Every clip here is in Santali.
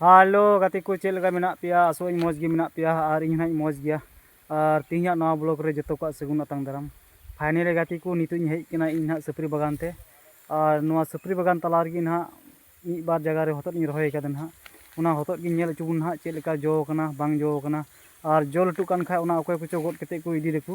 ᱦᱮᱞᱳ ᱜᱟᱛᱮ ᱠᱚ ᱪᱮᱫ ᱞᱮᱠᱟ ᱢᱮᱱᱟᱜ ᱯᱮᱭᱟ ᱟᱥᱚᱜ ᱟᱹᱧ ᱢᱚᱡᱽ ᱜᱮ ᱢᱮᱱᱟᱜ ᱯᱮᱭᱟ ᱟᱨ ᱤᱧ ᱦᱚᱸ ᱢᱚᱡᱽ ᱜᱮᱭᱟ ᱟᱨ ᱛᱮᱦᱮᱧᱟᱜ ᱱᱚᱣᱟ ᱵᱞᱚᱜ ᱨᱮ ᱡᱚᱛᱚ ᱠᱚᱣᱟᱜ ᱥᱟᱹᱜᱩᱱ ᱟᱛᱟᱝ ᱫᱟᱨᱟᱢ ᱯᱷᱟᱭᱱᱮᱞ ᱨᱮ ᱜᱟᱛᱮ ᱠᱚ ᱱᱤᱛᱚᱜ ᱤᱧ ᱦᱮᱡ ᱟᱠᱟᱱᱟ ᱤᱧ ᱱᱟᱦᱟᱜ ᱥᱟᱹᱯᱨᱤ ᱵᱟᱜᱟᱱ ᱛᱮ ᱟᱨ ᱱᱚᱣᱟ ᱥᱟᱹᱯᱨᱤ ᱵᱟᱜᱟᱱ ᱛᱟᱞᱟ ᱨᱮᱜᱮ ᱱᱟᱦᱟᱜ ᱢᱤᱫ ᱵᱟᱨ ᱡᱟᱭᱜᱟ ᱨᱮ ᱦᱚᱛᱚᱫ ᱤᱧ ᱨᱚᱦᱚᱭ ᱟᱠᱟᱫᱟ ᱱᱟᱦᱟᱜ ᱚᱱᱟ ᱦᱚᱛᱚᱫ ᱜᱮ ᱧᱮᱞ ᱦᱚᱪᱚ ᱵᱚᱱ ᱱᱟᱦᱟᱜ ᱪᱮᱫ ᱞᱮᱠᱟ ᱡᱚ ᱟᱠᱟᱱᱟ ᱵᱟᱝ ᱡᱚ ᱟᱠᱟᱱᱟ ᱟᱨ ᱡᱚ ᱞᱟᱹᱴᱩᱜ ᱠᱟᱱ ᱠᱷᱟᱱ ᱚᱱᱟ ᱚᱠᱚᱭ ᱠᱚᱪᱚ ᱜᱚᱫ ᱠᱟᱛᱮᱫ ᱠᱚ ᱤᱫᱤᱭ ᱫᱟᱠᱚ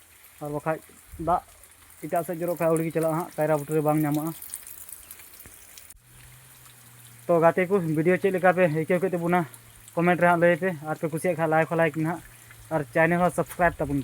ᱟᱨ ᱵᱟᱠᱷᱟᱡ ᱫᱟᱜ ᱮᱴᱟᱜ ᱥᱮᱫ ᱡᱚᱨᱚᱜ ᱠᱷᱟᱡ ᱟᱹᱣᱲᱤ ᱜᱮ ᱪᱟᱞᱟᱜᱼᱟ ᱦᱟᱸᱜ ᱠᱟᱭᱨᱟ ᱵᱩᱴᱟᱹ ᱨᱮ ᱵᱟᱝ ᱧᱟᱢᱚᱜᱼᱟ ᱛᱚ ᱜᱟᱛᱮ ᱠᱚ ᱵᱷᱤᱰᱤᱭᱳ ᱪᱮᱫ ᱞᱮᱠᱟ ᱯᱮ ᱟᱹᱭᱠᱟᱹᱣ ᱠᱮᱫ ᱛᱟᱵᱚᱱᱟ ᱠᱚᱢᱮᱱᱴ ᱨᱮ ᱦᱟᱸᱜ ᱞᱟᱹᱭ ᱯᱮ ᱟᱨ ᱯᱮ ᱠᱩᱥᱤᱭᱟᱜ ᱠᱷᱟᱡ ᱞᱟᱭᱤᱠ ᱦᱚᱸ ᱞᱟᱭᱤᱠ ᱢᱮ ᱦᱟᱸᱜ ᱟᱨ ᱪᱮᱱᱮᱞ ᱦᱚᱸ ᱥᱟᱵᱥᱠᱨᱟᱭᱤᱵ ᱛᱟᱵᱚᱱ ᱯᱮ